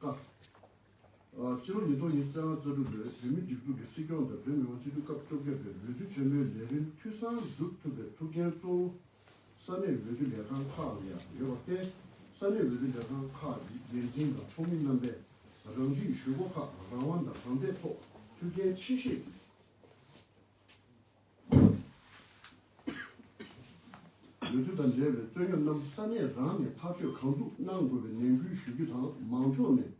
ཀ། ཕྱི་ལོ་ཉིས་སྟོང་ཉིན་བཙན་དབང་རྩ་དྲུག་ལོའི་བོད་མིའི་སྒྲིག་འཛུགས་ཀྱི་སྲིད་སྐྱོང་དང་བོད་མི་དབང་སྤྱི་འཐུས་སྐབས་བཅོ་བརྒྱད་པའི་འོས་བསྡུ་ཆེན་མོའི་ལས་རིམ་འཐུས་ཚང་བསྒྲུབ་ཐུབ་པའི་ཐུགས་འགན་གཙོ་བོ་ས་གནས་འོས་བསྡུ་ལས་ཁང་ཁག་ལ་ཡང་ཡོད་པར་བརྟེན་ས་གནས་འོས་བསྡུ་ལས་ཁང་ཁག་གི་འགན་འཛིན་དང་ཚོགས་མི་རྣམ་པས་རང་ཇུས་ཞུ་སྒོ་ཁག་རང་དབང་དང་རང་འབད་ཐོག་མཐུན་རྐྱེན་ཆེ་ཤོས་ཀྱི། ལུས་རྩལ་དང་འབྲེལ་བའི་རྩོད་རྙོག་རྣམས་ས་གནས་རང་ནས་ཐག་གཅོད་གང་ཐུབ་གནང་དགོས་པའི་ནན་སྐུལ་ཞུ་རྒྱུ་དང་མང་ཚོགས་ནས་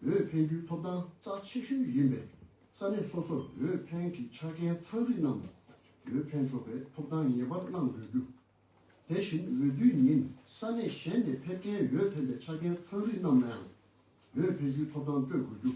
འོས་འཕེན་རྒྱུའི་ཐོབ་ཐང་རྩ་ཆེ་ཤོས་ཡིན་པས་ས་གནས་སོ་སོར་འོས་འཕེན་གྱི་ཆ་རྐྱེན་ཚང་རིགས་རྣམས་ལ་འོས་འཕེན་ཆོག་པའི་ཐོབ་ཐང་ངེས་པར་གནང་དགོས་རྒྱུ། དེ་བཞིན་འོས་བསྡུའི་ཉིན་ས་གནས་གཞན་ནས་ཕེབས་མཁན་འོས་འཕེན་པའི་ཆ་རྐྱེན་ཚང་རིགས་རྣམས་ལའང་འོས་འཕེན་རྒྱུའི་ཐོབ་ཐང་སྤྲོད་དགོས་རྒྱུ།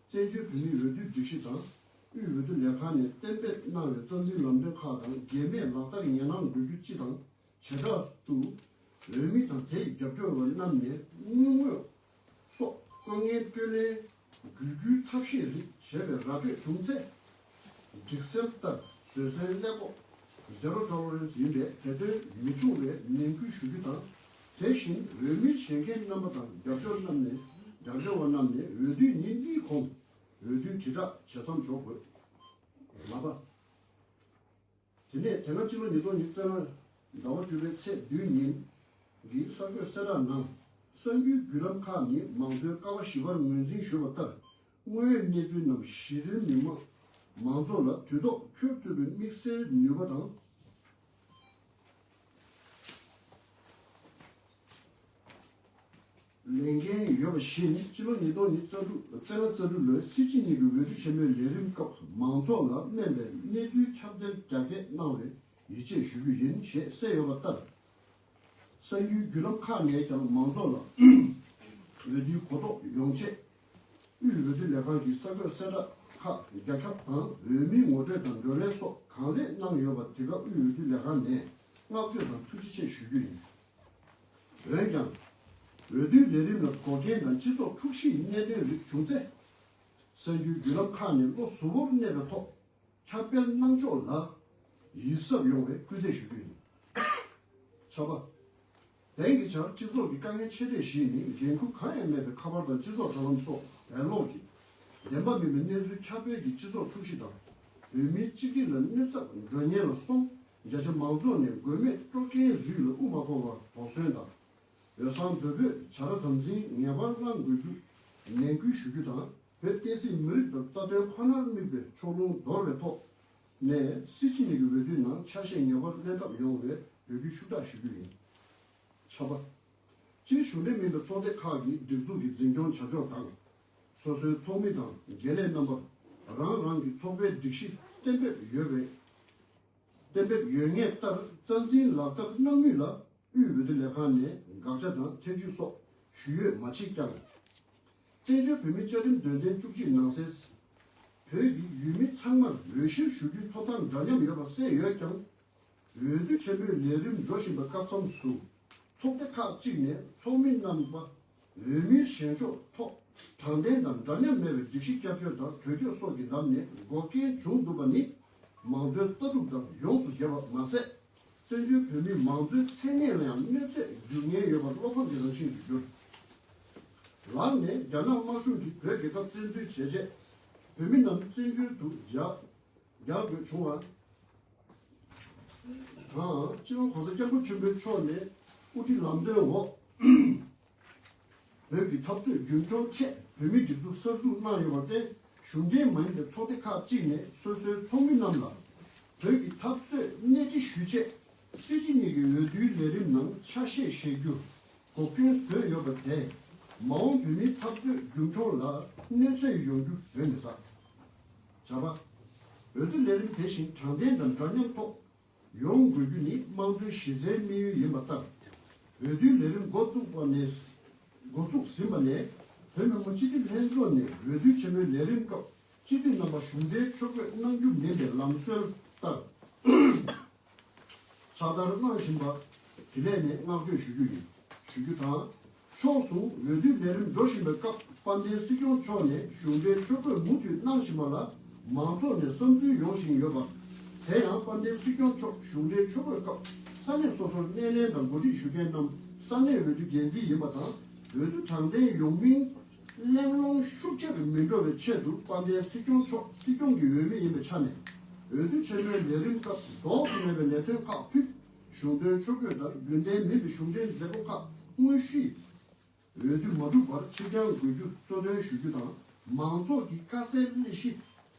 བཙན་བྱོལ་བོད་མིའི་འོས་བསྡུ་སྒྲིག་གཞི་དང་དབུས་འོས་བསྡུ་ལས་ཁང་ནས་གཏན་འབེབས་གནང་བའི་རྩ་འཛིན་ལམ་སྟོན་ཁག་དང་འགལ་མེད་ལག་བསྟར་ཡན་ལག་འགོད་རྒྱུ་སྤྱི་དང་བྱེ་བྲག་ཏུ། འོས་མི་དང་དེའི་རྒྱབ་སྐྱོར་བ་རྣམས་ནས་དངུལ་དངོས་སོགས་བཀོད་ངན་སྤྲོད་ལེན། བརྒྱུད་སྐུལ་ཐབས་ཤེས་རིགས་བྱས་པའི་ར་སྤྲོད་བྱུང་ཚེ། སྒྲིག་སྲོལ་ལྟར་བཟོད་བསྲན་གླེང་སྐོག། Zero Tolerance། ཡིན་པའི་བོད་དོན་མི་ཆུང་བའི་ནན་སྐུལ་ཞུ་རྒྱུ་དང། དེ་བཞིན་འོས་མི་བྱེད་མཁན་རྣམ་པ་དང་རྒྱབ་སྐྱོར་རྣམས་ནས་རྒྱབ་སྐྱོར་བ་རྣམས་ནས་འོས་བསྡུའི་ཉིན་གཉིས་གོང་འོས་བསྡུའི་དྲིལ་བསྒྲགས་བྱེད་མཚམས་འཇོག་དགོས། ལྔ་པ། དེ་ནས་དེ་སྔ་སྤྱི་ལོ་ཉིས་སྟོང་ཉིས་བརྩེགས་ལྔ་ཟླ་བ་བཅུ་པའི་ཚེས་བདུན་ཉིན་གྱི་གསར་འགོད་གསལ་བསྒྲགས་ནང་གསར་འགྱུར་བརྒྱུད་ལམ་ཁག་ནས་མང་གཙོའི་ཀ་བ་ཞི་བར་ངོས་འཛིན་ཞུས་པ་ལྟར་དངོས་ཡོད་གནས་ཚུལ་རྣམས་གཞི་རིམ་མི་དམངས་མང་ཚོགས་ལ་དུས་ཐོག་འཁྱོལ་ཐུབ་པའི་དམིགས་བསལ་ནུས་པ་དང། ལས་འགན་ཡོད་པ་བཞི་ནི་སྤྱི་ལོ་ཉིས་སྟོང་ཉིས་བརྩ་དྲུག་བཙན་ལ་བརྩ་དྲུག་ལོའི་སྲིད་སྤྱི་གཉིས་ཀྱི་འོས་བསྡུ་ཆེན་མོའི་ལས་རིམ་སྐབས་མང་ཚོགས་ལ་སྨན་པའི་གནས་ཚུལ་ཁྱབ་གདལ་རྒྱ་སྐྱེད་གནང་བའི་ཡིད་ཆེས་ཞུ་རྒྱུ་ཡིན་ཞེས་གསལ་ཡོད་པ་ལྟར། གསར་འགྱུར་བརྒྱུད་ལམ་ཁག་ནས་ཀྱང་མང་ཚོགས་ལ་འོས་བསྡུའི་གོ་རྟོགས་ཡོང་ཆེད། དབུས་འོས་བསྡུ་ལས་ཁང་གིས་གསར་འགོད་གསལ་བསྒྲགས་ཁག་རྒྱ་ཁྱབ་དང་འོས་མིའི་ངོ་སྤྲོད་དང་བགྲོ་གླེང་སོགས་གང་ལེགས་གནང་ཡོད་པར་དེ་ག་དབུས་འོས་བསྡུ་ལས་ཁང་ནས་བསྔགས་བརྗོད་དང་ཐུགས་རྗེ་ཆེ་ཞུ་རྒྱུ་ཡིན། འོན་ཀྱང། འོས་བསྡུའི་ལས་རིམ་ལ་དགོས་གལ་ན་སྤྱི་ཚོགས་འཁྲུག་གཞིའི་གནད་དོན་རིགས་བྱུང་ཚེ། གསར་འགྱུར་བརྒྱུད་ལམ་ཁག་ནས་བློ་གཟུ་བོར་གནས་པའི་ཐོག་ཁྱབ་སྤེལ་གནང་ཕྱོགས་ལ་ཡིད་གཟབ་ཡོང་བའི་སྐུལ་འདེད་ཞུ་རྒྱུ་ཡིན། ཆ་པ། དེང་གི་ཆར་སྤྱི་ཚོགས་ཀྱི་དཀའ་ངལ་ཆེ་གྲས་བཞི་ནི་འགན་ཁུར་གང་ཡང་མེད་པའི་ཁ་པར་དང་སྤྱི་ཚོགས་དྲ་ལམ་སོགས་བེད་ལོག་གིས་བདེན་པ་མིན་པའི་གནས་ཚུལ་ཁྱབ་སྤེལ་གྱིས་སྤྱི་ཚོགས་འཁྲུག་གཞི་དང་བོད་མིའི་གཅིག་སྒྲིལ་ལ་གནོད་ཚབ་འགྲོ་ཉེན་ལ་སོམས་རྒྱ་ཆེ་མང་ཚོགས་ནས་དགོས་མེད་སྤྲོ་དགའི་རུས་ལ་དབུ་མ་འཁོར་བར་དོགས་ཟོན་དང། འོས་གསང་འབོད་འབོད་བྱ་ར་དམ་འཛིན་ངེས་པར་གནང་དགོས་རྒྱུ་ནན་སྐུལ་ཞུ་རྒྱུ་དང་བོད་བསྟན་སྲིད་མི་རིགས་དང་རྩ་དོན་ཁོ་ནར་དམིགས་པའི་ཕྱོགས་ལྷུང་འདོར་བའི་ཐོག་ནས་སྲིད་སྤྱི་གཉིས་ཀྱི་འོས་བསྡུའི་ནང་ཆ་ཤས་ངེས་པར་གནས་ཐབས་ཡོང་བའི་འབོད་སྐུལ་ཤུགས་དྲག་ཞུ་རྒྱུ་ཡིན། ཆ་པ། སྤྱིར་གཞུང་འབྲེལ་མིན་པའི་ཚོགས་སྡེ་ཁག་གི་སྒྲིག་འཛུགས་ཀྱི་འཛིན་སྐྱོང་བྱ་ཕྱོགས་དང། སོ་སོའི་ཚོགས་མི་དང་དགེ་ལས་རྣམ་པར་རང་རང་གི་ཚོགས་པའི་སྒྲིག་གཞི་གཏན་འབེབས་ཡོད་པའི་གཏན་འབེབས་ཡོད་ངེས་ལྟར་རྩ་འཛིན་ལག་བསྟར་གནང་མུས་ལ་དབུས་འོས་བསྡུ་ལས་ཁང་ནས་དགག་བྱ་དང་ཐེ་བྱུས་སོགས་ཞུ་ཡོད་མ་མཆིས་ཀྱང། བཙན་བྱོལ་བོད་མིའི་བཅའ་ཁྲིམས་དོན་ཚན་བཅུ་གཅིག་ནང་གསལ། བོད་ཀྱི་ཡུལ་མི་ཚང་མར་འོས་གཞིར་ཞུགས་རྒྱུའི་ཐོབ་ཐང་འདྲ་མཉམ་ཡོད་པ་གསལ་ཡོད་ཀྱང། འོས་བསྡུ་ཆེན་པོའི་ལས་རིམ་འགྲོ་བཞིན་པའི་སྐབས་མཚམས་སུ་ཚོགས་སྡེ་ཁག་ཅིག་ནས་ཚོགས་མི་རྣམ་པ་འོས་མིའི་བཞེངས་ཕྱོགས་ཐོག་དྲང་བདེན་དང་འདྲ་མཉམ་མེད་པའི་སྒྲིག་གཞི་བསྐྱར་བཅོས་དང་གྲོས་ཆོད་སོགས་ཀྱི་ལམ་ནས་འགོག་རྐྱེན་བྱུང་འདུག་པ་ནི་མང་གཙོའི་ལྟ་གྲུབ་དང་ཡོངས་སུ་བརྒྱབ་པ་མ་ཟད། བཙན་བྱོལ་བོད་མིའི་མང་གཙོའི་མཚན་གནས་ལ་ཡང་གནོད་འཚེ་འཇུག་ཉེན་ཡོད་པ་བློ་ཕམ་གྱི་རང་བཞིན་དུ་གྱུར། ལར་ནས་རྒྱ་ནག་དམར་གཞུང་གིས་བོད་རྒྱལ་ཁབ་བཙན་འཛུལ་བྱས་རྗེས་བོད་མི་རྣམས་བཙན་བྱོལ་དུ་རྒྱག་དགོས་བྱུང་བ། དང། སྤྱི་ལོ་གོང་ས་སྐྱབས་མགོན་ཆེན་པོའི་མཆོག་ནས་དབུ་ཁྲིད་ལམ་སྟོན་འོག་བོད་ཀྱི་འཐབ་རྩོད་རྒྱུན་འཁྱོངས་ཆེད་བོད་མིའི་སྒྲིག་འཛུགས་གསར་འཛུགས་གནང་ཡོད་པར་བརྟེན་གཞུང་འབྲེལ་མ་ཡིན་པའི་ཚོགས་སྡེ་ཁག་ཅིག་ནས་སོ་སོའི་ཚོགས་མི་རྣམས་ལ་བོད་ཀྱི་འཐབ་རྩོད་སྣེ་ཁྲིད་ཞུ་ཆེད་སྲིད་སྤྱི་གཉིས་ཀྱི་འོས་བསྡུའི་ལས་རིམ་ནང་ཆ་ཤས་བཞེས་རྒྱུ་གོ་སྐྱོན་བཟོས་ཡོད་པ་དེས་མ་འོངས་བོད་མིའི་འཐབ་རྩོད་རྒྱུན་འཁྱོངས་ལ་གནོད་འཚེ་ཡོང་རྒྱུ་གདོན་མི་ཟ། བྱ་བ། འོས་བསྡུ་ལས་རིམ་དེ་བཞིན་དྲང་བདེན་དང་འདྲ་མཉམ་ཐོག་ཡོང་དགོས་རྒྱུ་ནི་དམངས་གཙོའི་གཞི་རྩའི་དམིགས་ཡུལ་ཡིན་པ་ལྟར། འོས་བསྡུའི་ལས་རིམ་འགོ་བཙུགས་པ་ནས་འགོ་བཙུགས་ཟིན་པ་ནས་བོད་མི་མང་སྤྱི་འཐུས་ལྷན་ཚོགས་ནས་འོས་བསྡུ་ཆེན་མོའི་ལས་རིམ་སྐབས་སྤྱི་འཐུས་རྣམ་པ་གཞུང་འབྲེལ་ཕྱོགས་བསྐྱོད་གནང་རྒྱུ་མིན་པའི་ལམ་སྲོལ་ལྟར། ཚགས་བསྟར་གནང་བཞིན་པ། དེ་ནས་ནས་བསྔགས་བརྗོད་ཞུ་རྒྱུ་ཡིན་ཞུ་རྒྱུ་དང། ཕྱོགས་སུ་འོས་བསྡུའི་ལས་རིམ་འགྲོ་བཞིན་པའི་སྐབས་དཔལ་ལྡན་སྲིད་སྐྱོང་མཆོག་ནས་གཞུང་འབྲེལ་ཆོས་འཁོད་མུ་མཐུད་གནང་བཞིན་པ་ལ་མང་ཚོགས་ནས་བསམ་ཚུལ་ཡོང་བཞིན་ཡོད་པ། དེ་ཡང་དཔལ་ལྡན་སྲིད་སྐྱོང་མཆོག་གཞུང་འབྲེལ་ཆོས་འཁོད་སྐབས་ས་གནས་སོ་སོར་སྣེ་ལེན་དང་འགོ་ཁྲིད་ཞུ་མཁན་རྣམས་ས་གནས་འོས་བསྡུ་འགན་འཛིན་ཡིན་པ་དང་འོས་བསྡུ་དྲང་བདེན་ཡོང་མིན་གླེང་སློང་ཤུགས་ཆེ་རུ་མི་འགྲོ་བའི་ཆེད་དུ་དཔལ་ལྡན་སྲིད་སྐྱོང་མཆོག་སྲིད་སྐྱོང་གི་འོས་མི་ཡིན་པའི་ཆ་ནས་འོས་བསྡུ་ཆེན་མོའི་ལས་རིམ་སྐབས་ལྡོག་ཏུ་མེད་པའི་ལས་དོན་ཁག་ཕུད། གཞུང་དོན་ཆོས་གོས་ལྟར་རྒྱུན་ལྡན་མིན་པའི་གཞུང་འབྲེལ་མཛད་སྒོ་ཁག་དངོས་གཞིའི་འོས་བསྡུ་མ་གྲུབ་པར་ཕྱིར་འགྱངས་དགོས་རྒྱུ་གཙོ་དོན་ཞུ་རྒྱུ་དང་མང་ཚོགས་ཀྱི་དཀའ་སེལ་སླད་གཞི་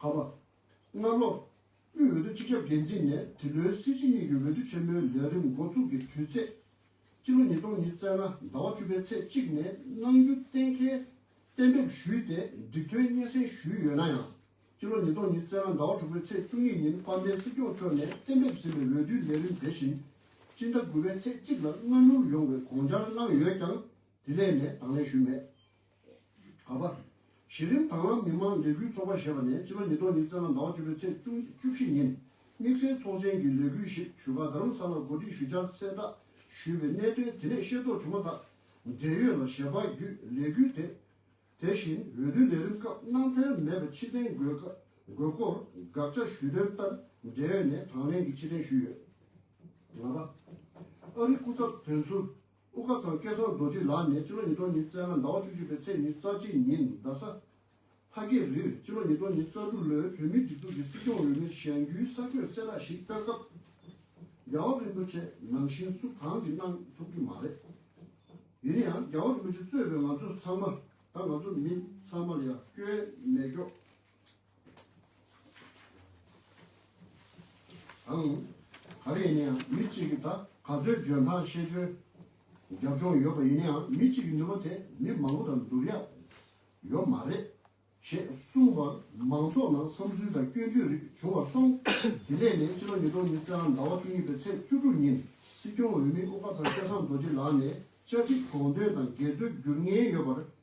ཕ་མ། སྔ་ལོ། དབུས་འོས་བསྡུ་སྤྱི་ཁྱབ་འགན་འཛིན་ནས་དེ་ལོའི་སྲིད་སྤྱི་གཉིས་ཀྱི་འོས་བསྡུ་ཆེན་མོའི་ལས་རིམ་འགོ་བཙུགས་ཀྱི་དུས་ཚེས། སྤྱི་ལོ་ཉིས་སྟོང་ཉིས་བརྩེགས་ལྔ་ཟླ་བ་བཅུ་པའི་ཚེས་གཅིག་ནས་གནང་རྒྱུ་གཏན་འཁེལ་གཏན་འབེབས་ཞུས་ཏེ་འགྲིག་ཐོན་སྙན་སེང་ཞུས་ཡོད་ན་ཡང། སྤྱི་ལོ་ཉིས་སྟོང་ཉིས་བརྩེགས་ལྔ་ཟླ་བ་དྲུག་པའི་ཚེས་བཅུ་གཉིས་ཉིན་དཔལ་ལྡན་སྲིད་སྐྱོང་མཆོག་ནས་གཏན་འབེབས་ཟིན་པའི་འོས་བསྡུའི་ལས་རིམ་དེ་བཞིན། སྤྱི་ཟླ་དགུ་པའི་ཚེས་གཅིག་ལ་སྔ་བསྣུར་ཡོང་བའི་དགོངས་འཆར་གནང་ཡོད་ཀྱང་དེ་ལས་ནས་དང་ལེན་ཞུས་མེད། དགོས་པ། གཞི་རིམ་དྭང་བླངས་མི་དམངས་ལས་འགུལ་ཚོགས་པ་ཞེས་པ་ནས་ཕྱི་ལོ་ཉིས་སྟོང་ཉིས་བརྩེགས་ལ་ཟླ་བ་བཅུ་པའི་ཚེས་བཅུ་བཅུ་བཞི་ཉིན་དམིགས་བསལ་ཚོགས་ཆེན་གྱི་ལས་འགུལ་ཞིག་ཞུ་ཁ་རྡ་རམ་ས་ལར་གོ་སྒྲིག་ཞུ་འཆར་གསལ་བསྒྲགས་ཞུས་པའི་གནད་དོན་དེ་ནས་ཤེས་རྟོགས་བྱུང་མ་ཐག་འབྲེལ་ཡོད་ལ་ཞལ་པར་བརྒྱུད་ལས་འགུལ་དེ་དེ་བཞིན་འོས་བསྡུའི་ལས་རིམ་སྐབས་གནང་ཐལ་མེད་པའི་ཕྱིར་འཐེན་དགོས་དགོས་སྐོར་དགག་བྱ་ཞུས་དོན་ལྟར་འབྲེལ་ཡོད་ནས་དང་ལེན་གྱིས་ཕྱིར་འཐེན་ཞུས་ཡོད། ལྔ་པ། ཨ་རིའི་སྐུ་ཚབ་དོན་ཟུར། དབུ་དགའ་ཚང་སྐལ་བཟང་རྡོ་རྗེ་ལགས་ནས་སྤྱི་ལོ་ཉིས་སྟོང་ཉིས་བརྩེགས་ལྔ་ཟླ་བ་བཅུ་གཅིག་པའི་ཚེས་ཉེར་རྩ་གཅིག་ཉིན་རྡ་ས། ལྷ་རྒྱལ་རིར་སྤྱི་ལོ་ཉིས་སྟོང་ཉིས་རྩ་དྲུག་ལོའི་བོད་མིའི་སྒྲིག་འཛུགས་ཀྱི་སྲིད་སྐྱོང་འོས་མིར་བཞེངས་རྒྱུའི་ས་ཁྱོན་གསལ་བསྒྲགས་ཤིག་སྤེལ་སྐབས། རྒྱལ་བ་རིན་པོ་ཆེས་ནང་བཞིན་སུ་གང་གིས་གནང་ཐུབ་ཀྱི་མ་རེད། ཡིན་ན་ཡང་རྒྱལ་བ་རིན་པོ་ཆེ་གཙོས་པའི་ང་ཚོ་ཚང་མ་དང་ང་ཚོ་མི་ཚང་མ་ལ་ཡང་སྐྱོན་མེད་སྐྱོ། ཨང། ག་རེ་ཡིན་ན་ཡང་མི་གཅིག་གིས་ད་ག་ཚོད་འཇོན་ཐང་ཤེས་འཇོན་རྒྱབ་ལྗོངས་ཡོད་པ་ཡིན་ན་ཡང་མི་གཅིག་གི་ནུས་པ་དེ་མི་མང་པོ་དང་བསྡུར་ཡག་ཡོད་མ་རེད། ཞེས་གསུངས་པར་མང་ཚོགས་ནང་བསམ་ཚུལ་དང་སྐྱོན་བརྗོད་རིགས་བྱུང་བར་སོང། དེ་ནས་ནས་ཕྱི་ལོ་ཉིས་སྟོང་ཉིས་བརྒྱ་ཟླ་བ་བཅུ་གཉིས་པའི་ཚེས་བཅུ་དྲུག་ཉིན་སྲིད་སྐྱོང་འོས་མི་དབུ་དཀར་ཚང་སྐལ་བཟང་རྡོ་རྗེ་ལགས་ནས་བཅའ་ཁྲིམས་དགོངས་དོན་དང་འགལ་འཛོལ་བསྒྱུར་ངེས་ཡོད་པར་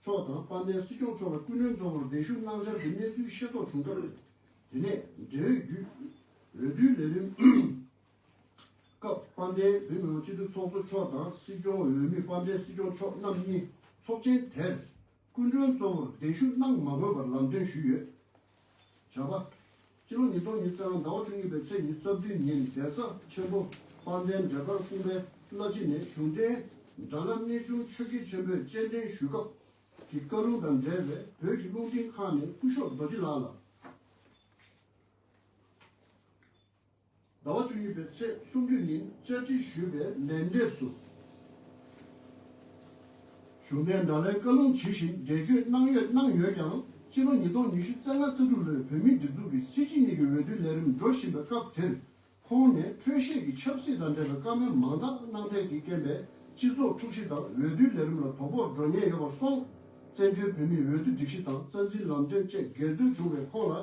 མཆོག་དང་དཔལ་ལྡན་སྲིད་སྐྱོང་མཆོག་ལ་སྐུ་མགྲོན་གཙོ་བོར་གདན་ཞུ་གནང་འཆར་གྱི་གནས་ཚུལ་ཤེས་རྟོགས་བྱུང་སྐབས། དེ་ནས་འབྲེལ་ཡོད་བརྒྱུད་འོས་བསྡུའི་ལས་རིམ་སྐབས་དཔལ་ལྡན་བོད་མི་མང་སྤྱི་འཐུས་ཚོགས་གཙོ་མཆོག་དང་སྲིད་སྐྱོང་འོས་མི་དཔལ་ལྡན་སྲིད་སྐྱོང་མཆོག་རྣམ་གཉིས་ཚོགས་ཆེན་དེར་སྐུ་མགྲོན་གཙོ་བོར་གདན་ཞུ་གནང་མ་དགོས་པར་ལམ་སྟོན་ཞུས་ཡོད། བྱ་བ། སྤྱི་ལོ་ཉིས་སྟོང་ཉིས་བརྩེགས་ལྔ་ཟླ་བ་བཅུ་གཉིས་པའི་ཚེས་ཉིན་རྩ་བདུན་ཉིན་གདན་ས་ཆེན་པོ་དཔལ་ལྡན་འབྲས་དཀར་སྐུ་འཕན་བླ་སྤྱི་ནས་གཞུང་འབྲེལ་སྦྲ་ནག་གནས་ཆུང་ཆོས་དགེ་ཆེན་པོས་སྤྱན་འདྲེན་ཞུས་སྐབས་ཀྱི་བཀའ་ལུང་དང་འབྲེལ་བའི་བོད་ཀྱི་རླུང་འཕྲིན་ཁང་ནས་སྐུ་ཤོག་རྡོ་རྗེ་ལགས་ལ། ཟླ་བ་བཅུ་གཉིས་པའི་ཚེས་སུམ་བཅུ་ཉིན་བཅའ་ཁྲིམས་ཞུས་པའི་ལན་འདེབས་སུ། གཞུང་འབྲེལ་དྲྭ་ལའི་བཀའ་ལུང་ཇི་བཞིན་འགྲེལ་བརྗོད་གནང་ཡོད་གནང་ཡོད་ཀྱང་ཕྱི་ལོ་ཉིས་སྟོང་ཉི་ཤུ་རྩ་ལྔ་རྩ་དྲུག་ལོའི་བོད་མིའི་སྒྲིག་འཛུགས་ཀྱི་སྲིད་སྤྱི་གཉིས་ཀྱི་འོས་བསྡུའི་ལས་རིམ་འགྲོ་བཞིན་པའི་སྐབས་དེར་ཁོང་ནས་འཕྲོད་བཞེས་ཀྱི་ཆབ་སྲིད་དང་འབྲེལ་བའི་བཀའ་མོལ་མང་དག་གནང་ཐད་ཀྱི་རྐྱེན་པས་སྤྱི་ཚོགས་འཁྲུག་གཞི་དང་འོས་བསྡུའི་ལས་རིམ་ལ་དོ་ཕོག་འགྲོ་ཉེན་ཡོད་པར་སོང། བཙན་བྱོལ་བོད་མིའི་འོས་བསྡུ་སྒྲིག་གཞི་དང་རྩ་འཛིན་ལམ་སྟོན་བཅས་འགལ་འཛོལ་བྱུང་བས་ཁོང་ལ་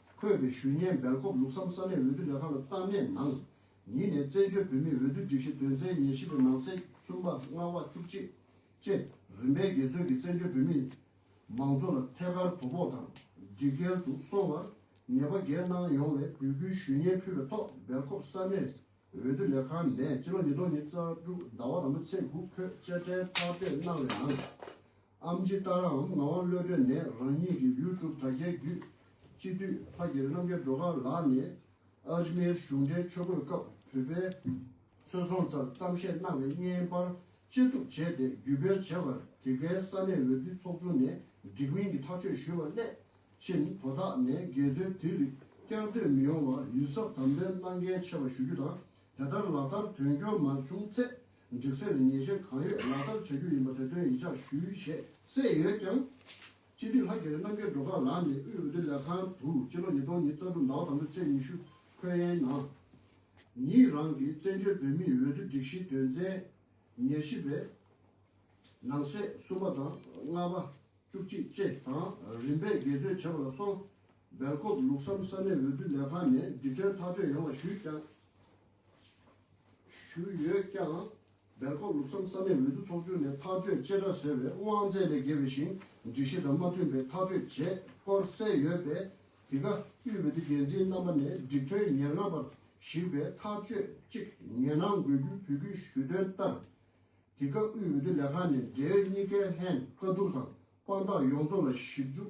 འཁོད་པའི་ཞུ་སྙན་སྦེལ་ཀོབ་ལུགས་བསམ་ས་གནས་འོས་བསྡུ་ལས་ཁང་ལ་བཏང་ནས་ནང་ཉིད་ནས་བཙན་བྱོལ་བོད་མིའི་འོས་བསྡུའི་སྒྲིག་གཞི་དོན་ཚན་ཉེར་བཞི་པའི་ནང་ཚན་གསུམ་པ་ལྔ་བ་བཅུ་གཅིག་བཅས་རིམ་པས་རྒྱལ་ཚོན་གྱིས་བཙན་བྱོལ་བོད་མིའི་མང་གཙོ་ལ་ཐད་ཀར་དོ་ཕོག་དང་སྒྲིག་འགལ་དུ་སོང་བར་ཉེས་པ་འགེལ་གནང་ཡོང་བའི་གུས་བཀུར་ཞུ་སྙན་ཕུལ་བའི་ཐོག་སྦེལ་ཀོབ་ས་གནས་འོས་བསྡུ་ལས་ཁང་ནས་སྤྱི་ལོ་ཉིས་སྟོང་ཉིན་གཙང་དྲུག་ཟླ་བ་དང་པོ་ཚེས་དགུ་བོད་དཔྱ་ཁྲལ་ཐག་གཅོད་གནང་བའི་ནང་ཨམ་ཇི་ཏཱ་ར་འམ་ངག་དབང་བློ་གྲོས་ནས་རང་ཉིད་ཀྱི YouTube དྲ་རྒྱའི་བརྒྱུད། སྤྱི་འཐུས་ཕ་གི་རྣམ་རྒྱལ་སྒྲོལ་དཀར་ལགས་ནས Ajmer གཞུང་འབྲེལ་ཆོས་འཁོད་སྐབས་བོད་པའི་ཚོས་ཚོང་རྩར་གཏམ་བཤད་གནང་བའི་བརྙན་དཔར་ཅི་ཐུབ་བྱས་ཏེ་བརྒྱུད་སྤེལ་བྱས་པར་དེ་གའི་ས་གནས་འོས་བསྡུ་ཚོགས་ཆུང་ནས་འགྲིག་མིན་གྱི་ཐག་གཅོད་ཞུས་པ་སླད་ཕྱིན་དོ་བདག་ནས་འགལ་འཛོལ་དེ་རིགས་བསྐྱར་ཟློས་མི་ཡོང་བར་ཡུལ་ཚབ་དམ་དོན་གནང་གལ་ཆེ་བ་ཞུ་རྒྱུ་དང་དེ་ལྟར་ལག་བསྟར་དོན་འཁྱོལ་མ་བྱུང་ཚེ་སྒྲིག་སྲོལ་ནི་ཉེས་ཅན་གང་ཡོད་ལག་བསྟར་བྱ་རྒྱུ་ཡིན་པ་དེ་དོན་ཡིད་འཇགས་ཞུས་ཞེས་གསལ་ཡོད་ཀྱང། སྤྱི་འཐུས་ལྷ་རྒྱལ་རྣམ་རྒྱལ་འགྲོ་ཁག་ལགས་ནས་དབུས་འོས་བསྡུ་ལས་ཁང་དུ་སྤྱི་ལོ་ཉིས་སྟོང་ཉིས་རྩ་དྲུག་ཟླ་བ་དང་པོའི་ཚེས་ཉི་ཤུ་འཁོད་ཡན་ནང་ཉིད་རང་གི་བཙན་བྱོལ་བོད་མིའི་འོས་བསྡུ་སྒྲིག་གཞིའི་དོན་ཚན་ཉེར་བཞི་པའི་ནང་གསེས་གསུམ་པ་དང་ལྔ་པ། བཅུ་གཅིག་བཅས་དང་རིམ་པས་དགེ་རྩོད་བྱས་པ་ལ་སོང་སྦེལ་ཀོབ་ལུགས་བསམ་ས་གནས་འོས་བསྡུ་ལས་ཁང་ནས་སྒྲིག་དོན་ཐག་གཅོད་ཡོང་བ་ཞུས་ཀྱང། ཞུས་ཡོད་ཀྱང། སྦེལ་ཀོབ་ལུགས་བསམ་ས་གནས་འོས་བསྡུ་ཚོགས་ཆུང་ནས་ཐག་གཅོད་བཅད་ཁྲ་ཟེར་བའི་དབང་རྩའི་ལས་བརྒལ་བའི་ཞིང་སྒྲིག་གཞི་དང་མ་མཐུན་པའི་ཐག་གཅོད་བྱས་སྐོར་གསལ་ཡོད་པས། དེ་ག་དབུས་འོས་བསྡུ་འགན་འཛིན་རྣམ་པ་ནས་སྒྲིག་དོན་ཉེར་ལྔ་པར་གཞིགས་པའི་ཐག་གཅོད་གཅིག་ཉན་གནང་དགོས་རྒྱུའི་བོད་ཁུལ་ཞུས་དོན་ལྟར། དེ་ག་དབུས་འོས་བསྡུ་ལས་ཁང་ནས་འབྲེལ་ཡོད་གཉིས་ཀའི་ལྷན་བཀའ་བསྡུར་དང་དཔང་རྟགས་ཡོངས་རྫོགས་ལ་ཞིབ་འཇུག་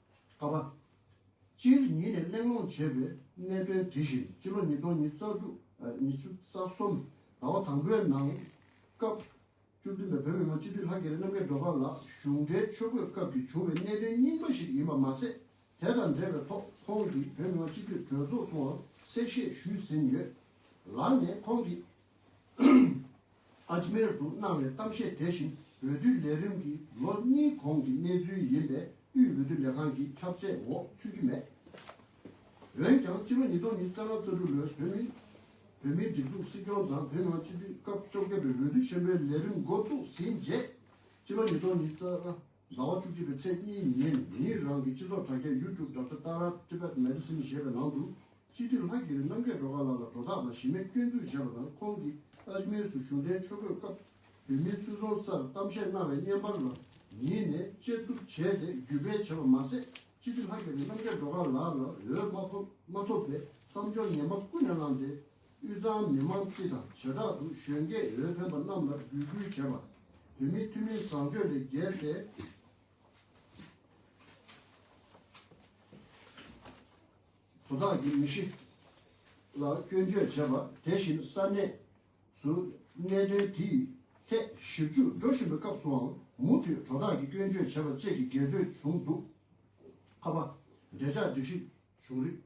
ག་པ། སྤྱིར་ཉིད་ནས་གླེང་སློང་བྱས་པའི་གནད་དོན་དེ་བཞིན་སྤྱི་ལོ་ཉིས་སྟོང་ཉིས་བརྩ་དྲུག་ཉི་ཤུ་རྩ་གསུམ་ཟླ་བ་དང་པོའི་ནང་སྐབས་བཅུ་བདུན་པའི་བོད་མི་མང་སྤྱི་འཐུས་ལྷ་རྒྱལ་རི་རྣམ་རྒྱལ་སྒྲོལ་དཀར་ལགས་གཞུང་འབྲེལ་ཆོས་གོས་སྐབས་ཀྱི་བྱུང་བའི་གནད་དོན་རྙིང་པ་ཞིག་ཡིན་པ་མ་ཟད་དེ་དང་འབྲེལ་བའི་ཐོག་ཁོང་གིས་བོད་མི་མང་སྤྱི་འཐུས་གྲོས་ཚོགས་སུའང་གསལ་བཤད་ཞུས་ཟིན་ཡོད། ལར་ནས་ཁོང་གིས། ཨ་ཇི་མེར་དུ་གནང་བའི་གཏམ་བཤད་དེ་བཞིན་འོས་བསྡུའི་ལས་རིམ་གྱི་ལོ་གཉིས་གོང་གི་གནས་ཚུལ་ཡིན་པས་དབུས་འོས་བསྡུ་ལས་ཁང་གི་ཁྱབ་ཚད་འོག་ཚུད་ཀྱི་མེད། འོན་ཀྱང་ཕྱི་ལོ་ཉིས་སྟོང་ཉིས་བརྩེགས་ལྔ་བཅུ་དྲུག་ལོའི་བོད་མིའི་བོད་མིའི་སྒྲིག་འཛུགས་སྲིད་སྐྱོང་དང་བོད་ནང་སྤྱི་འཐུས་སྐབས་བཅོ་བརྒྱད་པའི་འོས་བསྡུ་ཆེན་པོའི་ལས་རིམ་འགོ་བཙུགས་ཟིན་རྗེས་ཕྱི་ལོ་ཉིས་སྟོང་ཉིས་བརྩེགས་ལྔ་ཟླ་བ་བཅུ་གཅིག་པའི་ཚེས་གཉིས་ཉིན་ངེད་རང་གི་སྤྱི་ཚོགས་དྲ་རྒྱ YouTube དྲ་ཐོག Tara Tibet Medicine ཞེས་པའི་ནང་དུ་སྤྱི་འཐུས་ལྷ་དགེ་རིན་རྣམ་རྒྱལ་སྒྲོལ་དཀར་ལགས་ལ་གྲོ་རྟགས་དང་གཞི་མེད་སྐྱོན་འཛུགས་བྱས་པ་དང་ཁོང་གིས Ajmer སུ་གཞུང་འབྲེལ་མཆོད་འབོད་སྐབས་བོད་མིའི་སུད་ཚོང་སར་གཏམ་བཤད་གནང་བའི་བརྙན་པར་ལ་ཉིད་ནས་དཔྱད་བསྡུར་བྱས་ཏེ་བརྒྱུད་སྤེལ་བྱས་པ་མ་ཟད་སྤྱི་འཐུས་ལྷ་དགེ་རིན་རྣམ་རྒྱལ་སྒྲོལ་དཀར་ལགས་ལ་འོས་མ་ཐོབ་པའི་བསམ་སྦྱོར་ངན་པ་ཀུན་ནས་བསླངས་ཏེ་དབུས་གཙང་མི་མང་སྤྱི་དང་བྱེ་བྲག་ཏུ་གཞོན་སྐྱེས་འོས་འཕེན་པ་རྣམས་ལ་འབོད་སྐུལ་བྱས་པ། བོད་མིའི་ཐུན་མིན་བཟང་སྤྱོད་ལས་བརྒལ་ཏེ། དོ་བདག་གི་མི་གཤིས་ལ་སྐྱོན་བརྗོད་བྱས་པ། དེ་བཞིན་ས་གནས་སུ་གནད་དོན་དེ་ཡི་ཐད་ཞིབ་འཇུག་འགྲོ་བཞིན་པའི་སྐབས་སུའང་མུ་མཐུད་དོ་བདག་གི་སྐྱོན་བརྗོད་བྱས་པ་བཅས་ཀྱི་འགལ་རྩོད་བྱུང་འདུག་ཁ་པ། འབྲེལ་ཆགས་སྒྲིག་གཞི་བྱུང་རིགས།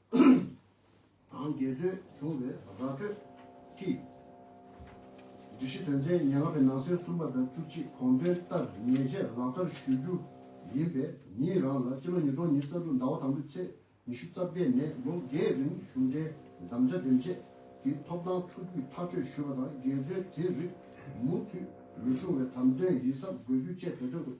དང་དགེ་ཚུལ་བྱུང་བའི་ར་སྤྲོད་ཀྱིས། སྒྲིག་གཞི་དོན་ཚན་ཉེར་ལྔ་པའི་ནང་གསེས་གསུམ་པ་དང་བཅུ་གཅིག་དགོངས་དོན་ལྟར་ཉེས་ཆད་ལག་བསྟར་ཞུ་རྒྱུ་ཡིན་པས་ཉིད་རང་ལ་ཕྱི་ལོ་ཉིས་སྟོང་ཉིས་རྩ་དྲུག་ཟླ་བ་དང་པོའི་ཚེས་ཉི་ཤུ་རྩ་བརྒྱད་ནས་ལོ་བརྒྱའི་རིང་གཞུང་འབྲེལ་གདམ་བྱ་འདེམས་བྱེད་ཀྱི་ཐོབ་ཐང་ཕྲུ་གུས་ཐག་གཅོད་ཞུས་པ་དང་དགེ་ཚུལ་དེ་རིགས་མུ་མཐུད་མི་བྱུང་བའི་དམ་དོན་ཡིད་གཟབ་དགོས་རྒྱུ་བཅས་བོད་དོན་ཁྲོད་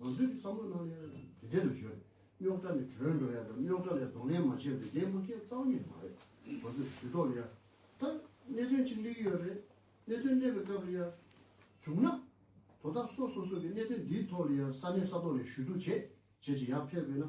ང་ཚོས་བསམ་བློ་གནང་ཡང་དེ་དེ་ལ་བརྗོད། རྙོག་དྲ་ནི་བྲོས་འགྲོ་ཡ་དང་རྙོག་དྲ་ལས་གདོང་ལེན་མ་བྱས་པའི་འདས་མ་ཁའི་རྩ་བ་ཉིད་མ་རེད། ང་ཚོས་དུས་ཐོག་ལ་ཡ། ད། གནད་དོན་ཅིག་སླེབས་ཀྱི་ཡོད་རེད། གནད་དོན་སླེབས་པའི་སྐབས་ལ་ཡ། བྱུང་ན། དོ་བདག་སོ་སོ་སོ་གིས་གནད་དོན་འདིའི་ཐོག་ལ་ཡ་ས་གནས་ས་ཐོག་ལས་ཞུ་གཏུག་བྱེད་བྱེད་ཅིག་ཡ་ཕེབས་དགོས་ན།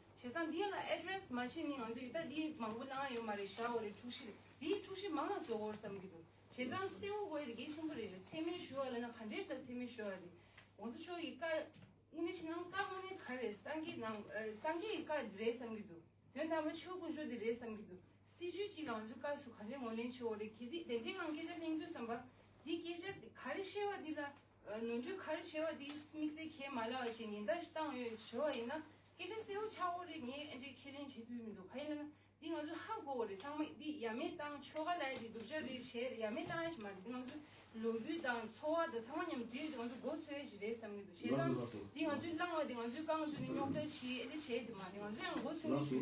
བྱས་ཙང་འདི་ལ address མ་བྱས་ནི་ང་ཚོས་ཡི་ད་འདི་མང་པོ་གནང་ཡ་ཡོད་མ་རེད་བཞག་འོ་རེད་འཁྲུག་གཞི་རེད་འདི་འཁྲུག་གཞི་མང་ལ་བཟོ་གོ་བསམ་གྱི་འདུག་བྱས་ཙང་སེ་འུ་གོ་ཡ་དེ་གལ་ཆེན་པོ་རེད་རེད་ཚད་མའི་ཞུ་བ་ལ་ན་ག་འདྲའི་ལ་ཚད་མའི་ཞུ་བ་རེད ྋགོང་ས་མཆོག་གི་བཀའ་དངོས་གནས་ཕྱི་ནང་བཀའ་དངོས་གནས་ག་རེད་སངས་རྒྱས་ནང་སངས་རྒྱས་ཀྱི་བཀའ་དེ་རེད་བསམ་གྱི་འདུག་དོན་དམ་པ་ཆོས་དཀོན་མཆོག་དེ་རེད་བསམ་གྱི་འདུག་སྲིད་ཇུས་གཅིག་ལ་ང་ཚོས་བཀའ་ཟུར་ག་འདྲའི་ངོ་ལེན་བྱེད་འོ་རེད་གལ་སྲིད་བདེན་འབྲེལ་ངང་སྐད་ཆ་གླེང་འདོད་བསམ་པ་འདི་སྐད་ཆ་འདི་ག་རེ་བཤད་པ་འདི་ལ་ནོར་འཁྲུལ་ག་རེ་བྱས་པ་དེ་དམིགས་བསལ་ཁས་མ་ལེན་བ་ཞིག་ཉེན་བརྡ་ཞིག་བཏང་ཡོད་ཞུ་བ་ཡིན་ན་སྐད་ཆ་གསལ་བོ་ཆགས་བོ་རེད་ངས་ཨེ་འདྲས་ཁས་ལེན་བྱེད་ཐུས་མི་འདུག་ག་ཡིན་ལ་ན་འདི་ང་ཚོའི་ཧ་གོ་བོ་རེད་ཚང་མ་འདི་ཡ་མེད་བཏང་ཆོ་ག་ལ་ཡ་དེ་སྡུག་ཅག་རེད་བྱས་རེད་ཡ་མེད་བཏང་ཡ་ཞིག་མ་རེད་འདི་ང་ཚོའི་ལོ་རྒྱུས་དང་འཚོ་བ་དང་ཚང་མ་མཉམ་འདྲེས་ཡོད་དེ་ང་ཚོ་མགོ་འཚོས་ཡ་ཞིག་རེད་བསམ་གྱི་འདུག་བྱས་ཙང་འདི་ང་ཚོའི་བླངས་བ་དེ་ང་ཚོའི་རྐང་བཟོས་ནས་རྙོག་དྲ་བྱས་ཨེ་འདྲས་བྱས་དེ་མ་རེད་ང་ཚོ་ཡང་མགོ་འཚོས་ངེས་ཞུ།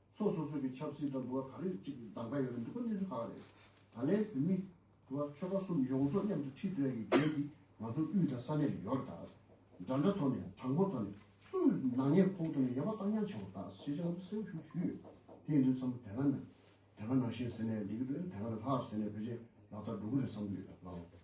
ཚོགས་སོ་སོའི་གི་ཆབ་སྲིད་དང་འདུ་བ་ག་རེ་གཅིག་གི་གདམ་ཀ་ཡོད་རེད་འདུག་པ་གནས་ཚུལ་ག་ག་རེད། ད་ལའི་བོད་མི། འདུ་བ་ཆོལ་ཁ་གསུམ་ཡོངས་རྫོགས་མཉམ་དུ་ཁྲིད་འདོད་ཡི་གེ་འདི་ང་ཚོ་དབུས་དང་ས་གནས་ལ་ཡོད་རེད་ད། འདྲ་འདྲ་ཐོག་ནས་དྲང་པོ་ཐོག་ནས་སུ་ནག་ཉེས་ཁོག་ཐོག་ནས་ཡ་བ་བཏང་ཉར་བྱེད་དགོས་ད་ཞེས་ཅི་ང་ཚོ་གསལ་པོ་ཞུ་ཞུ་ཡོད། དེ་ཡིན་དུས་མཚམས་དེ་ག་ནང་དེ་ག་ནང་བཞིན་ཟེར་ནས་འགྲིག་གི་འགྲོ་ཡ་དེ་ག་ནང་ལྷག་ཟེར་ནས་བོད་ཆས་ལག་བསྟར་འགྲོ་གི་རེད་བསམ་གི་ཡོད་ད་ལའོ།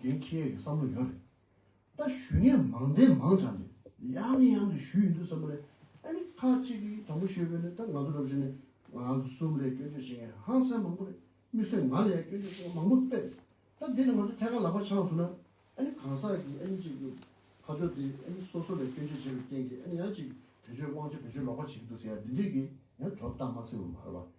རྒན་ཁྱེད་ཀྱི་བསམ་བློ་ཡོད་རེད་ད། ཞུས་ངས་མང་བདེན་མང་དྲང་གི་ཡང་ནས་ཡང་ནས་ཞུས་ཡིན་འདུག་བསམ་རེད་ཨ་ནི་ཁ་ཅིག་གིས་དྲང་པོ་ཞུས་པས་ནི་ད་ང་ཚོ་རབ་བཞིན་ནས་ང་ཚོ་གསུམ་རེད་སྐྱོན་བརྗོད་བྱེད་མཁན་ཧང་སངས་མང་པོ་རེད་དམིགས་བསལ་ང་ལ་ཡང་སྐྱོན་བརྗོད་བྱེད་མཁན་མང་པོ་པས་རེད་ད་འདི་ནས་ང་ཚོ་ཐད་ཀར་ལག་པ་འཆང་སོང་ན་ཨ་ནི་གང་ཟག་གིས་ཨ་ནི་གཅིག་གི་ཁ་ཕྱོགས་དེ་ཨ་ནི་སོ་སོ་ལ་སྐྱོན་བརྗོད་བྱས་པའི་རྐྱེན་གྱིས་ཨ་ནི་ཡང་གཅིག་བེད་སྤྱོད་དབང་ཆ་བེད་སྤྱོད་ལོག་པ་བྱེད་ཀྱི་འདུག་ཟེར་ཡ་འདི་འདྲས་ཀྱིས་ཡང་གྲོགས་གཏམ་མ་ཚེ་བ་མ་རེད་པ་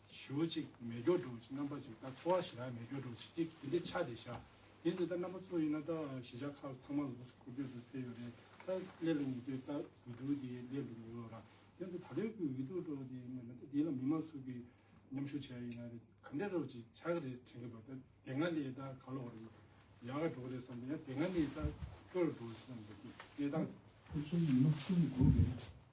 ཞུ་གཅིག་མེ་སྒྱོགས་སྒྲོག་གཅིག་རྣམ་པ་ཅིག་ད་འཚོ་བ་ཞེ་ན་མེ་སྒྱོགས་སྒྲོག་བྱེད་ཅིག་དེ་འདྲའི་ཆ་དེ་བཞག་དེ་འདི་ལྟར་རྣམ་པ་ཚོ་ཡིན་ན་ད་གཞིས་ཆགས་ཁག་ཚང་མ་ལོགས་སུ་འཁོར་སྐྱོད་དུ་ཕེབས་ཡོད་རེད་ད་སླེབས་ལ་ཉེ་དུས་ད་འོས་བསྡུ་དེ་སླེབས་ལ་ཉེ་ལོ་རང་དེ་འདི་ད་ལོའི་འོས་བསྡུ་སྒྲོག་དེ་སྔོན་མ་ད་དེ་ལ་མི་མང་ཚོགས་ཀྱིས་མཉམ་ཞུགས་བྱས་ཡིན་ན་རེད་ག་འདྲའི་སྒྲོག་ཅིག་ཆ་ག་རེ་དྲན་གི་འདུག་ད་དེ་སྔ་ལས་ད་ག་ལོག་རེད་ཡག་ག་སྒྲོག་རེད་བསམ་ཡང་དེ་སྔ་ནས་ད་སྐྱོ་ལ་སྒྲོག་བསམ་འདུག་གནས་སྟངས་དེ། ཕུན་སུམ་ཚོགས་པའི་སྒྲོག་གི་རེད།